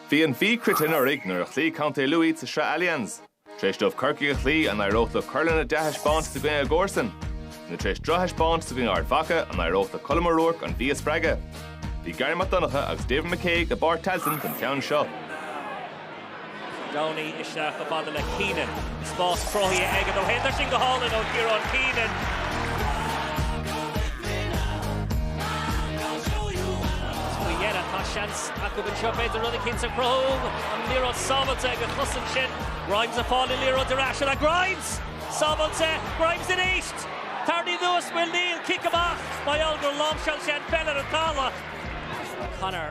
Bhí an Mhí croite anuraidh nuair a chloígh Contae Lú iad sa Sraith Allianz. Tar éis dóibh Corcaigh a chloí, an éireodh leo cur lena ndea-thaispeántas i gcoinne a gcomharsan? Nó tar éis drochthaispeántas i gcoinne Ard Mhacha, an éireodh le Colm O'Rourke an Mhí a spreagadh? Bhí Garry Mac Donncha agus David McCague i bPáirc Tailteann don cheann seo. Downey isteach i bhfad le Keenan. Spás cruthaithe aige dó féin. Tá sin go hálainn ó Ciarán Keenan. Faoi dheireadh tá seans acu anseo b'fhéidir rud éicint a chruthú. An liathróid sábháilte ag an chosaint sin. Grimes ag fáil an liathróid ar ais. Is é Grimes sábháilte. Grimes aríst. Tarraingthe anuas, an bhfuil? Níl. Cic amach. Mar gheall gur láimhseáil sé an pheil ar an talamh. Conor.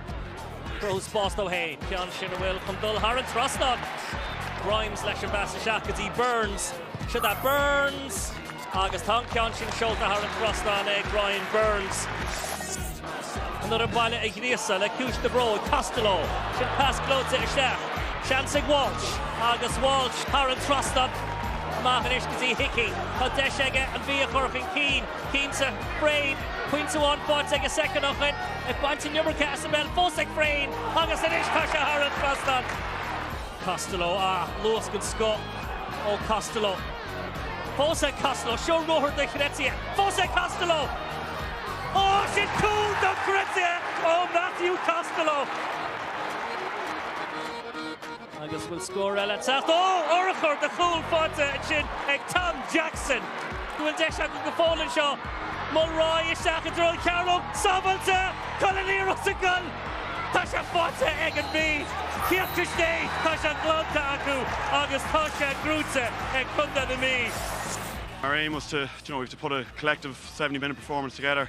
cruthú spás dó féin, ceann sin a bhfuil chun dul thar an trasnán agus Grimes leis an bpas isteach go dtí Burns, seo that Burns! agus tá an ceann sin seolta thar an trasnán ag Ryan Burns. An fhoireann baile a ghríosadh le cúis na bróig, Costello, sin pas gleoite isteach, seans ag Walsh agus Walsh thar an trasnán, amach anois go dtí Hickey, tá deis aige an Mhí a chur chun cinn. Cinnte, Frayne, pointe amháin faighte aige soicind ó shin, ag baint an iomarca as an bpeil fós ag Frayne agus anois tá sé thar an trasnán. Costello, ah, luas den scoth ó Costello. Fós ag Costello, seo ruathar dochreidte, fós ag Costello! Ó, sin cúl dochreidte ó Matthew Costello! Agus bhfuil scór eile ag teacht? Ó, urchar de chúl faighte ansin ag Tom Jackson? An bhfuil deis acu go fóill anseo. Mulroy isteach i dtreo an chearnóg. Sábháilte! Bhfuil an liathróid sa gcúl! Tá sé faighte ag an Mhí. Cioca istigh, tá sé glanta acu agus tá sé gnóite ag Contae na Mí. Our aim was to, do you know, we have to put a collective seventy minute performance together.